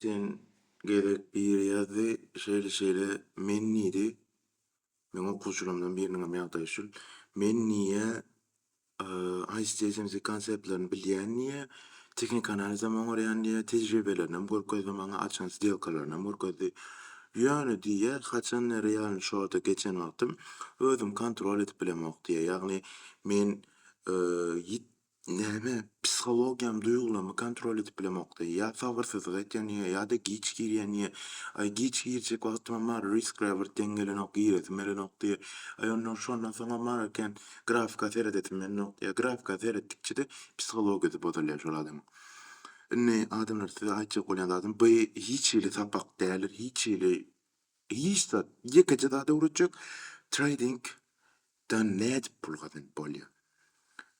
Sen gezek biri ýazdy, şeýle-şeýle men diýdi. Meň okuwçylarymdan biriniňem ýagdaýy şul. Men diýýä, eee, ICD-SMC konseptlerini bilýän diýýä, tehniki analizem oňarýan diýýä, tejribelerinem görkezdi maňa, açan sdelkalarynam görkezdi. Ýöne diýýä, haçanda realnyý şorta geçen wagtym özüm kontrol edip bilemok diýýä. Ýagny men, eee, ýit Näme, psihologiýam duýgulamy kontrol edip bilemokdy. Ýa sabyrsyzlyk etýändigiňe ýa-da giç girýändigiňe. Aý, giç girjek wagtymam bar, Riskräwert deň gelenok, giresim gelenok diýýä. Aý, ondan şondan soňam bar eken, grafika seredesim gelenok diýýä. Grafika seretdikçe-de psihologiýasy bozulýar şol adamyň. Indi, adamlar, size aýtjak bolýan zadym, bu hiç hili sapak däldir, hiç hili, hiç zat, ýekeje zat öwretjek, treýding, Dan nädip pul gazanyp bolýa.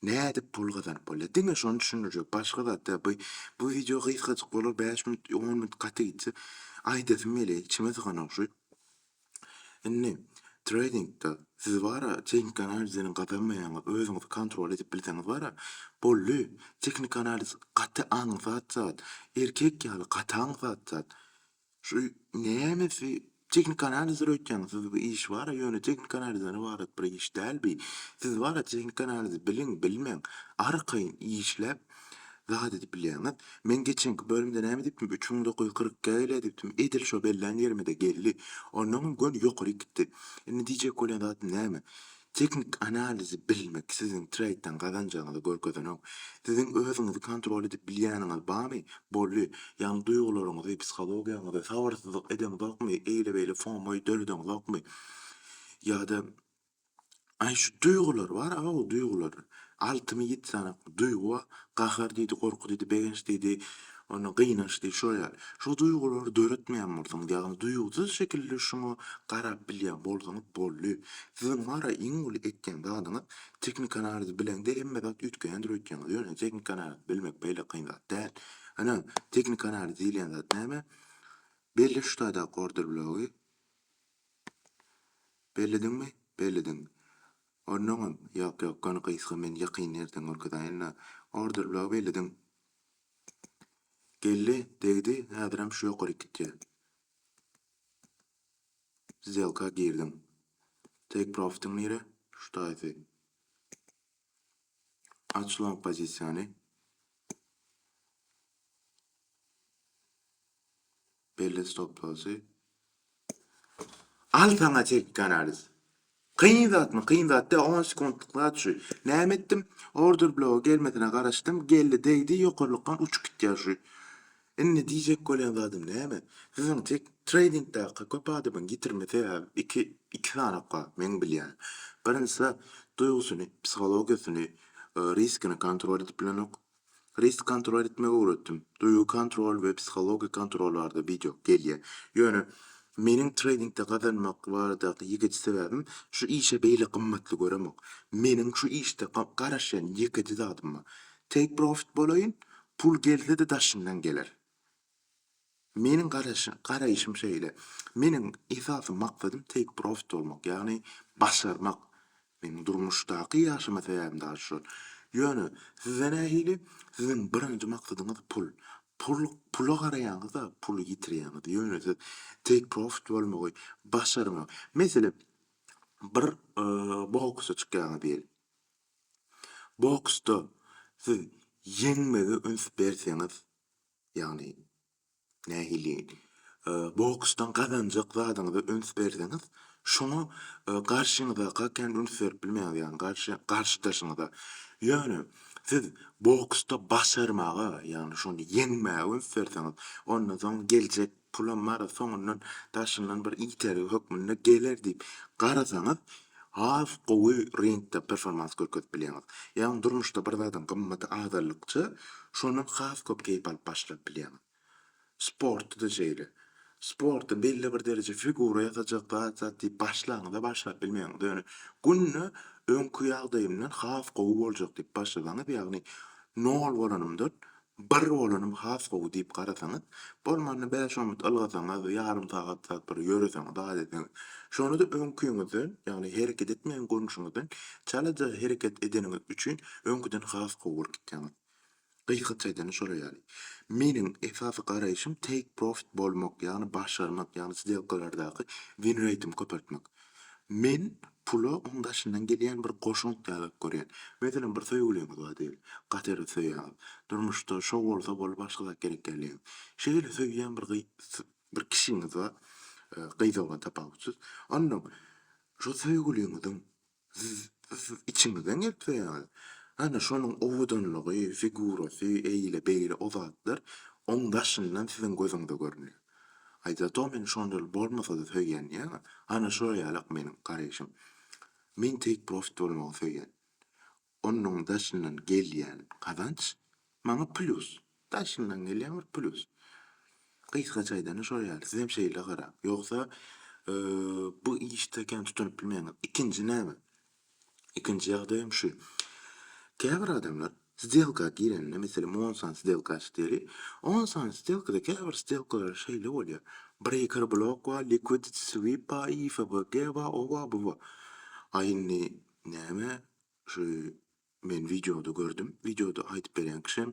Nädip pul gazanyp bolýa diňe şony düşündirjek başga zat däl bu bu wideo gysgajyk bolar bäş minut on minut gaty gitse aýdasym gelýä içime syganok şu indi treýdingde siz bara tehniki analiz bilen gazanmaýaňyz özüňizi kontrol edip bilseňiz bara boldy tehniki analiz gaty aňsat zat erkek ýaly gaty aňsat zat Şu nämesi tehnik analiz döretýäňiz siz bu iş bara ýöne tehnik analizden ybarat bir iş däl bi siz bara tehnik analizi biliň bilmeň arkaýyn işläp zat edip bilýäňiz men geçenki bölümde näme edipdim üç müň dokuz ýüz kyrk iki gelýä diýipdim edil şo bellän ýerimede geldi onnoňam göni ýokaryk gitdi indi diýjek bolýan zatym näme Teknik analizi bilmek siziň treýdden gazanjagyňyzy görkezenok. Siziň özüňizi kontrol edip bilýäniňiz barmy? Boldy. Ýagny duýgularyňyzy, psihologiýaňyzy sabyrsyzlyk edeňzokmy, eýle-beýle fomo döredeňzokmy? Ýa-da, Aý, şu duýgular bar-a, gowy duýgular. Altymy ýiti sanak, duýgy bar. Gahar diýdi, gorky diýdi, begenç diýdi, ondan gynanç diýdi, şolar ýaly. Şu duýgulary döretmeýän bolsaňyz, ýagny duýgusyz şekilde şuňa garap bilýän bolsaňyz boldy. Siziň wara iň uly etýän zadyňyz tehnikanalizi bileňde hemme zat üýtgeýändir öýtýäňiz. Ýöne tehnikanalizi bilmek beýle kyn zat däl. Ine, tehnikanaliz diýilýän zat näme? Belli şu taýdaky order blogy. Bellediňmi? Bellediň. Onnoňam, Ýok, ýok, goni gysga men ýakyn ertir görkezäýin-le. Order blogy bellediň. Geldi, degdi, häzirem şu ýokaryk gitýä. Sdelka girdiň. Take profitiň nire? Şu taýsy. Aç long pozisiýany. Belli stop losy. Al saňa teknik analiz. Kyn zatmy, kyn zat däl, on sekuntlyk zat şu. Näme etdim? Order bloga gelmesine garaşdym, geldi degdi, ýokarlykdan uçup gitýär şu. Indi diýjek bolýan zadym näme? Siziň tek treýdingdäki köp adamyň ýitirme sebäbi iki, iki sanap bar meň bilýän. Birinjisi duýgusyny, psihologiýasyny, riskini kontrol edip bilenok. Risk kontrol etmegi öwretdim. Duýgy kontrol we psihologik kontrol barada wideo gelýär. Ýöne meniň treýdingde gazanmak baradaky ýekeje sebäbim şu işe beýle gymmatly göremok. Meniň şu işde garaşýan ýekeje zadym bar. Take profit bolaýyn, pul gelse-de daşyndan geler. Meniň garaýşym şeýle. Meniň esasy maksadym take profit bolmak, ýagny başarmak. Meniň durmuşdaky ýaşama sebäbim dagy şol. Ýöne sizde nähili? Siziň birinji maksadyňyz pul. Pul, pula garaýaňyzda puly ýitirýäňiz. Ýöne siz take profit bolmagy başarmak. Meselem, bir boksa çykýaňyz diýeli. Boksda siz ýeňmegi üns berseňiz, ýagny nähili boksdan gazanjak zadyňyza üns berseňiz, şoňa garşyňyzaka kän üns berip bilmeýäňiz, ýagny garşy garşydaşyňyza. Ýöne siz boksda başarmaga, ýagny şony ýeňmäge üns berseňiz, ondan soň geljek Pulam Mara soňundan daşyndan bir itergi hökmünde geler diýip garasaňyz, has gowy ringde performans görkezip bilýäňiz. Ýagny durmuşda bir zadyň gymmaty azaldykça, şondan has köp keýp alyp başlap bilýäňiz. Sportda-da şeýle. Sportda belli bir dereje figura ýasajak zat zat diýip başlaňyz-a başlap bilmeýäňiz. Ýöne günde öňki ýagdaýymdan has gowy boljak diýip başlasaňyz, ýagny nol bolanymdan Bir bolanym has gowy diýip garasaňyz, bolmanda bäş-on minut ylgasaňyz, ýarym sagat zat bir ýöreseňiz, zat etseňiz, şonda-da öňküňizden, ýagny hereket etmeýän görnüşiňizden çalaja hereket edeniňiz üçin öňküden has gowy bolup gitýäňiz. Gysgaça aýdanda şolar ýaly. Meniň esasy garaýşym take profit bolmak, ýagny başarmak, ýagny sdelkalardaky win reýtimi köpeltmek. Men pula oň daşyndan gelýän bir goşant ýalyk görýän. Meselem, bir söýgüliňiz bar diýeli. Gaty-da söýýäňiz. Durmuşda şo bolsa bolup başga zat gerek däl diýýäňiz. Şeýle söýýän bir gyz, bir kişiňiz bar, gyz oglan tapawutsyz. Onnoň şo söýgüliňiziň siz içiňizden gelip söýýäňiz. Hany şonuň owadanlygy, figurasy, eýle-beýle o zatlar oň daşyndan siziň gözüňize görünýär. Aýdýardy-ow meni şondaly bolmasa-da söýýän diýýän-ä. Ana şolar ýalak meniň garaýşym. Men take profit bolmagy söýýän. Onuň daşyndan gelýän gazanç maňa plýus. Daşyndan gelýän bir plýus. Gysgaça aýdanda şolar ýaly. Sizem şeýle garaň. Ýogsa bu işde kän tutunyp bilmeýäňiz. Ikinji näme? Ikinji ýagdaýam şu. Käbir adamlar sdelka girende, meselem, on sany sdelka açdy diýeli. On sany sdelkada käbir sdelkalar şeýle bolýar, breýker blok bar, liquidity sweep bar, ifbg bar, o bar, bu bar. Aý indi näme şu Men wideoda gördüm. Wideoda aýdyp berýän kişem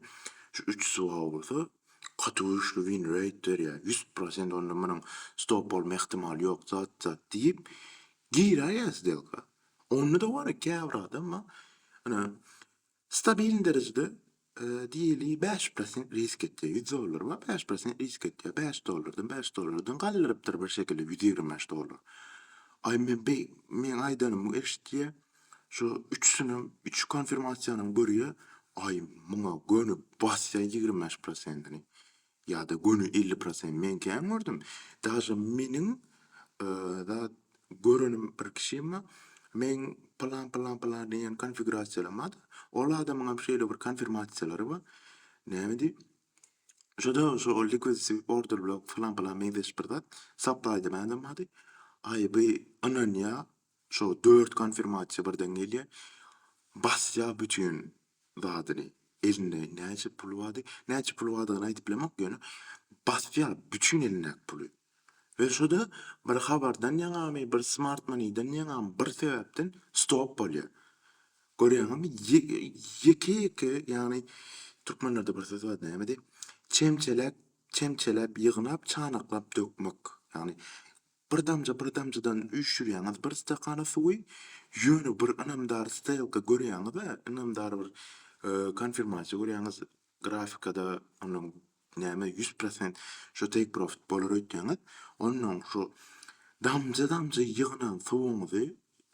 şu üç suwaga bolsa gaty güýçli win rate berýär. Ýüz prosent onda munuň stop bolma ähtimaly ýok zat zat diýip giräýýär sdelka. Onda-da wara käbir adam bar ine stabiln derejede diýeli bäş prosent risk etýär. Ýüz dollar bar bäş prosent risk etýär. Bäş dollardan bäş dollardan galdyrypdyr birşekilde ýüz ýigrimi bäş dollar. Aý men beý meň aýdanymy eşitýär. Şu üçüsinem üç konfirmasiýanyň görýä aý muňa göni basýa ýigrimi bäş prosentini ýada göni elli prosent men kän gördüm daže meniň zat görenim bir kişimi meň pylan pylan pylan diýen konfigurasiýalamada ol adamyňam şeýle bir konfirmasiýalary bar näme diýip şoda şo liquid sweep order block pylan pylan meňzeş bir zat sapaýda mälim bady aý by ynanýa Şo dört konfirmasiýa birden gelýä. Basýa bütin zadyny. Elinde näçe puly bardy. Näçe puly bardygyny aýdyp bilemok ýöne basýa bütin elindäki puly. We şoda bir habardan ýaňamy bir smart moneydan ýaňamy bir sebäpden stop bolýa. Görýäňizmi ýeke ýeke ýagny türkmenlerde bir söz bar nämedi çemçeläp çemçeläp ýygnap çanaklap dökmek ýagny Bir damja bir damjadan üýşürýäňiz bir stakana suwy, ýöne bir ynamdar stelka görýäňiz-ä, ynamdar bir konfirmasiýa görýäňiz, grafikada onuň näme ýüz prosent şo take profit bolar öýtýäňiz, onnoň şu damja-damja ýygnan suwuňyzy,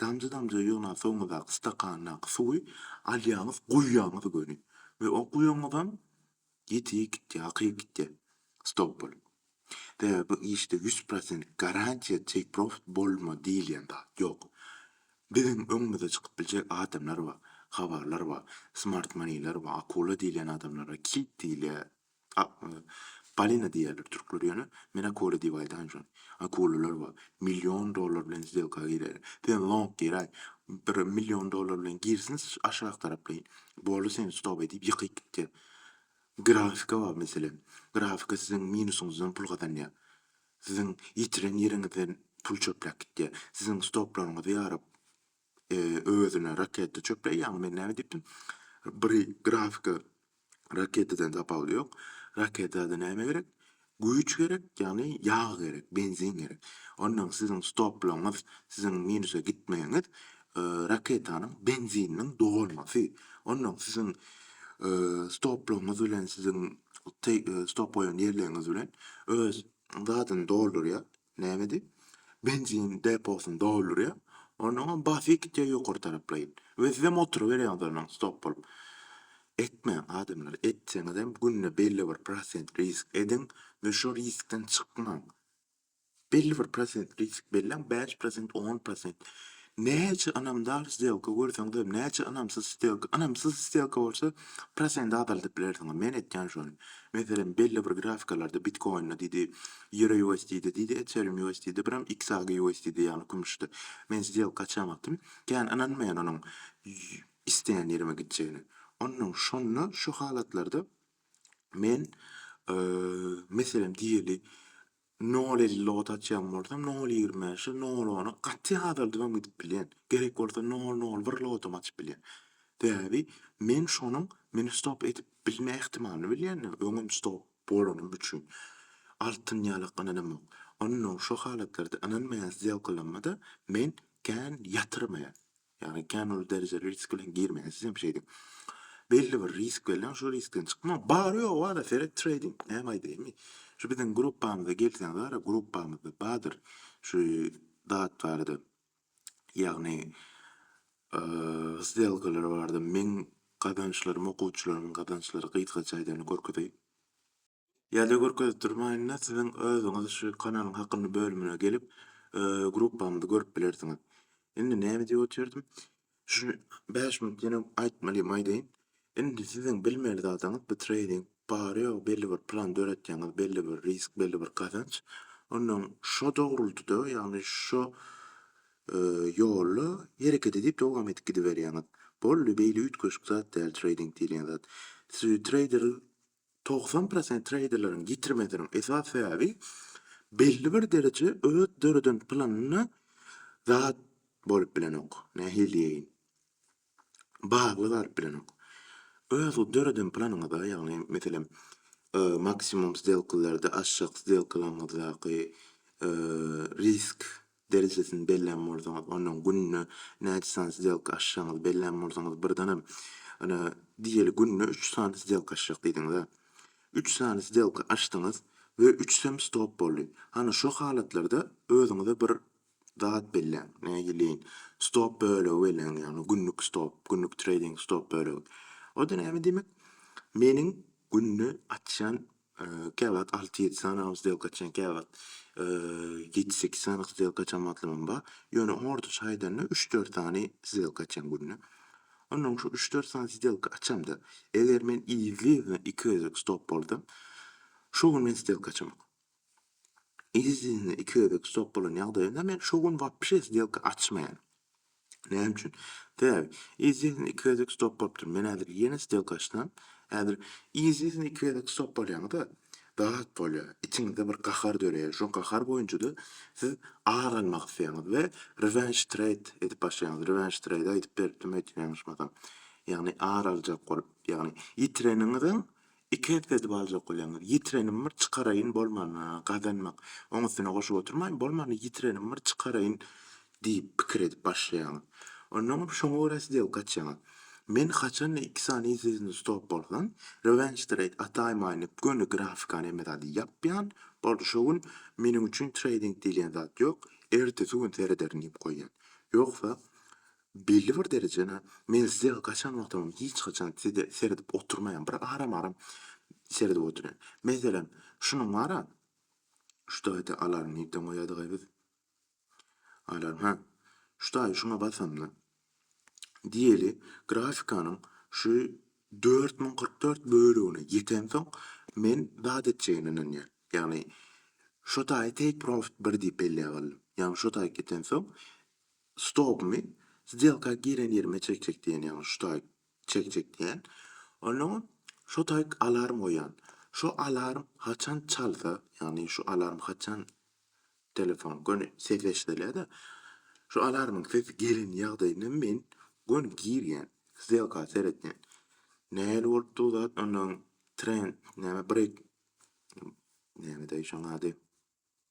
damja-damja ýygnan suwuňyzdaky stakandaky suwy alýaňyz, guýýaňyz göni we o guýanyňyzam Ýiti gitýä akyp gitýä stop bolup. Sebäbi bu işde ýüz prosent garantiýa take profit bolma diýilýän zat ýok. Biziň öňümize çykyp biljek adamlar bar, habarlar bar, smart moneyler bar, akula diýilýän adamlar bar, kit diýilýä, balina diýýäler türkler ýöne men akula diýip aýdan şony. Akulalar bar. Million dollar bilen sdelka girýärler. Sen long giräý. Bir million dollar bilen girsin aşak taraplaýyn. Boldy sen stop edip ýykyp gitýä. Grafika bar meselem. Grafika siziň minusyňyzdan pul gazanýa. Siziň ýitiren ýeriňizden pul çöpläp gitýä. Siziň stoplaryňyzy ýaryp özüne raketa çöpläýýä. Ýaňy men näme diýipdim? Bir grafika raketadan tapawudy ýok. Raketa-da näme gerek? Güýç gerek, ýagny ýag gerek, benzin gerek. Onnoň siziň stoplaryňyz, siziň minusa gitmegiňiz raketanyň benzininiň dolmasy. Onnoň siziň stoplaryňyz bilen siziň stop goýan ýerleriňiz bilen öz zadyny doldurýar, Näme diýip? Benzin deposyny doldurýar, onnoňam basy gitýär ýokary taraplaýyn we sizem oturyberýäňiz onnoň stop bolup. Etmäň, adamlar, etseňizem günde belli bir prosent risk ediň we şo riskden çykmaň. Belli bir prosent risk belläň, bäş prosent, on prosent. Näçe ynamdar stelka görseňizem, näçe ynamsyz stelka, ynamsyz stelka bolsa prosendi azaldyp bilersiňiz. Men etýän şony. Meselem, belli bir grafikalarda Bitcoin-da diýdi, Euro USD-de diýdi, Ethereum USD-de biram XAG USD-de ýagny kümüşde. Men stelka açýan wagtym kän ynanmaýan onuň isleýän ýerime gitjegine. Onnoň şonda şu halatlarda men meselem diýeli Nol elli logata açýan bolsam, nol ýigrimi bäşe, nol ona gaty azaldybam gidip bilýän. Gerek bolsa nol nol bir logatam açyp bilýän. Sebäbi men şonuň meni stop edip bilme ähtimalyny bilýändim, öňem stop bolanym üçin altyn ýalak ynanamok. Onnoň şo halatlarda ynanmaýan sdelkalamada men kän ýatyrmaýan. Ýagny kän uly derejeli risk bilen girmeýän siz hem şeýdiň. Belli bir risk belläň şo riskden çykmaň. Bary ýogy bada seret treýding näme aýdaýmy. Şu biziň gruppamyza gelseňiz gara gruppamyzda badyr şu zat barada ýagny sdelkalar barada meň gazançlarym okuwçylarymyň gazançlary gysgaça aýdanda görkezeýin. Ýa-da görkezip durmaýynda siziň özüňiz şu kanalyň hakynda bölümine gelip, gruppamyzy görüp bilersiňiz. Indi näme diýip otyrydym? Şu bäş minut ýene aýtmalym aýdaýyn. Indi siziň bilmeli zadyňyz bu treýding bar ýogy belli bir plan döretýäňiz, belli bir risk, belli bir gazanç. Ondan şo dogrultyda, ýagny şo ýolda hereket edip dowam edip gidiberýäňiz. Boldy, beýle üýtgeşik zat däl treýding diýilýän zat. Siz treýder Togsan prosent treýderleriň ýitirmesiniň esas sebäbi belli bir dereje öz döreden planyna zat bolup bilenok, nähili diýeýin, bagly galyp bilenok. Öz döreden planyňyza, ýagny meselem, maksimum sdelkalarda, aşak sdelkalaryňyzdaky risk Derejesini bellän bolsaňyz, ondan günde näçe sany sdelka açjagyňyzy bellän bolsaňyz, birdenem, Ine, diýeli günde üç sany sdelka açjak diýdiňiz-ä. Üç sany sdelka açdyňyz we üçüsem stop boldy. Hany, şo halatlarda özüňize bir zat belläň, nägileýin, stop bölegi belläň, ýagny günlük stop, günlük treýding stop bölegi. O-da näme diýmek? Meniň günde açýan Käwagt alty-ýedi sanam sdelka açýan käwagt ýedi-sekiz sanam sdelka açýan wagtlamam bar. Ýöne ortaça aýdanda üç-dört sany sdelka açýan günde. Onnoň şu üç-dört sany sdelka açamda eger men yzly-yzyna iki gezek stop bolsam şo gün men sdelka açamok. Yzly-yzyna iki gezek stop bolan ýagdaýynda men şo gün wapşe sdelka açmaýan. Näme üçin? Täk, izin iki gezek stop bolupdyr. Men häzir ýene stelka açsam, häzir izin iki gezek stop bolýaňyz-a, dat bolýar. Içiňizde bir gahar döreýär. Şo gahar boýunça-da siz ar almak isleýäňiz we revenge trade edip başlaýaňyz. Revenge trade aýdyp beripdim, eýsem ýalňyşmasam. Ýagny ar aljak bolup, ýagny ýitireniňiziň Iki ep edip aljak bolýaňyz. Ýitirenim bir çykaraýyn bolmana, gazanmak. Oň üstüne goşup oturmaýyn, bolmana ýitirenim bir çykaraýyn diýip pikir edip başlaýaňyz. Onnoňam şoňa görä sdelka açýaňyz. Men haçanda iki sany izizini stop bolsam, rewenge trade ataýmaýyn diýip göni grafikany hemme zady ýapýan, boldy şo gün meniň üçin treýding diýilýän zat ýok, ertesi gün serederin diýip goýýan. Ýogsa Belli bir derejede men size gaçan wagtymam hiç haçan size seredip oturmaýan, bir aram-aram seredip oturýan. Meselem, şunuň bar-a, şu taýda alarm nirden goýadygaý biz? Alarm, hä, şu taýy şuňa basamda, diýeli, grafikanyň şu dört müň kyrk dört bölegine ýetensoň, men zat etjegine ynanýan. Ýagny, şo taýy take profit bir diýip belläp aldym. Ýagny, şo taýy ýetensoň, Stopmy, sdelka giren ýerime çekjek diýen ýaňy şu taýk çekjek diýen. Onnoň şo taýk alarm goýan. Şo alarm haçan çalsa, ýagny şu alarm haçan telefon göni ses eşidilýär-de, şo alarmyň sesi gelen ýagdaýynda men göni girýän, sdelka seretýän. Nähili bolupdy bu zat, onnoň trend näme break nämedaý şoň ady.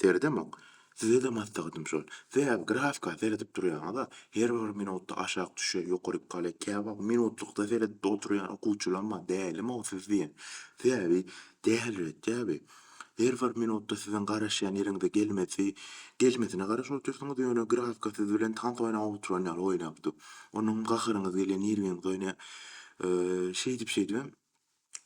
Seredemok. Size-de maslahatym şol, sebäbi grafika seredip durýaňyz-a, her bir minutda aşak düşýär, ýokaryk galýar. Käwagt minutlykda seredip-de oturýan okuwçylaram bar, dälimi-ow siz diýen. Sebäbi däliretýär bi. Her bir minutda siziň garaşýan ýeriňize gelmesi, gelmesine garaşyp otyrsyňyz, ýöne grafika siz bilen tans oýnap oturan ýaly oýnap dur. Onuňam gaharyňyz gelýär, nirwiňiz oýnaýar. Şeýdip-şeýdibem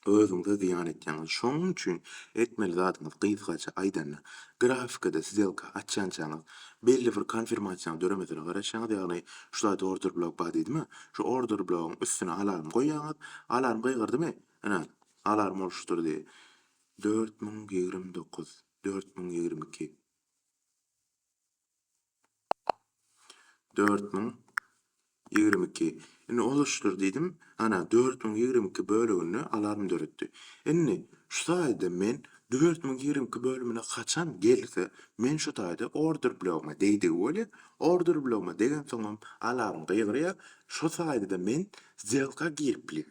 özüňize zyýan etýäňiz. Şonuň üçin etmeli zadyňyz gysgaça aýdanda, grafikada sdelka açýançaňyz, belli bir konfirmasiýanyň döremesine garaşýaňyz, ýagny şu zat order blok bar diýdimi, şu order blogyň üstüne alarm goýýaňyz, alarm gygyrdymy, ine, alarm boluşupdyr diýdi. Dört müň ýigrimi dokuz, dört müň ýigrimi iki. Dört müň ýigrimi iki. Indi olaşdyr diýdim. Ana, dört müň ýigrimi iki böleginde alarm döretdi. Indi, şu taýda men dört müň ýigrimi iki bölümine haçan gelse, men şu taýda order blogyma degdigi bolýar. Order blogyma degensoňam alarm gygyrýar. Şu taýda-da men zdýelka girip bilýän.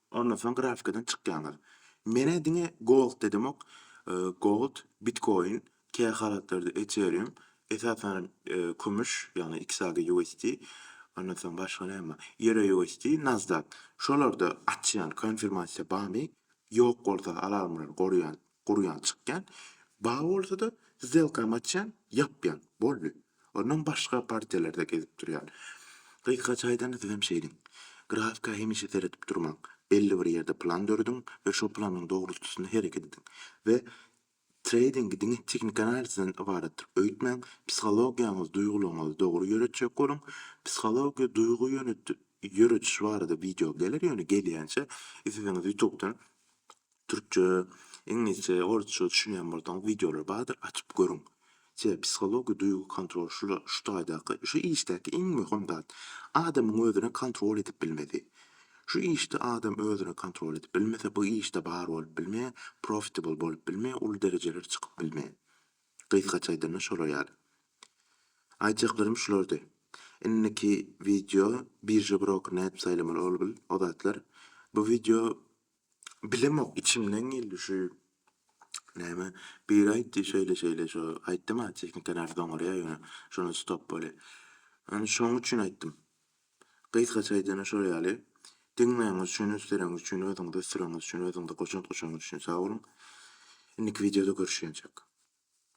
Ondan soň grafikadan çykýaňyz. Menä diňe Gold dedimok. Gold, Bitcoin, käýa halatlarda Ethereum, esasan kümüş, ýagny XAGUSD, ondan soň başga näme bar? EURUSD, Nasdaq. Şolarda açýan konfirmasiýa barmy? Ýok bolsa alarmlary guraýan Gurýan çykýan. Bar bolsa-da, zdelkam açýan, ýapýan. Boldy. Ondan başga partiýalarda gezip durýan. Gysgaça aýdanda sizem şeýdiň. Grafika hemişe seredip durmaň. Belli bir ýerde plan dörediň we şo planyň dogrultusynda hereket ediň. We treýdingi diňe tehniki analizden ybaratdyr öýtmäň. Psihologiýaňyzy, duýgularyňyzy dogry ýöretjek boluň. Psihologiýa, duýgy ýörediş barada wideo geler, ýöne gelýänçä isledigiňiz ýutubdan Türkçe, iňlisçe, orsça düşünýän bolsaňyz wideolar bardyr açyp görüň. Sebäbi psihologiýa duýgy kontrol şula şu taýdaky şu işdäki iň möhüm zat adamyň özüne kontrol edip bilmesi. Şu işde adam özüne kontrol edip bilmese bu işde bar bolup bilmeýär, profitable bolup bilmeýär, uly derejelere çykyp bilmeýär. Gysgaça aýdanda şolar ýaly. Aýtjaklarym şulardy. Indiki wideo birža broker nädip saýlamaly ol bil o zatlar. Bu wideo Bilemok içimden geldi şu näme biri aýtdy şeýle şeýle şu aýtdyma tehnika nädip oňarýar ýöne şonda stop bolýar. Ony şoň üçin aýtdym. Gysgaça aýdana şol ýaly. Diňleýäňiz üçin üsteleňiz üçin özüňizi ösdüreňiz üçin özüňize goşant goşaňyz üçin sag boluň. Indiki wideoda görüşýänçek.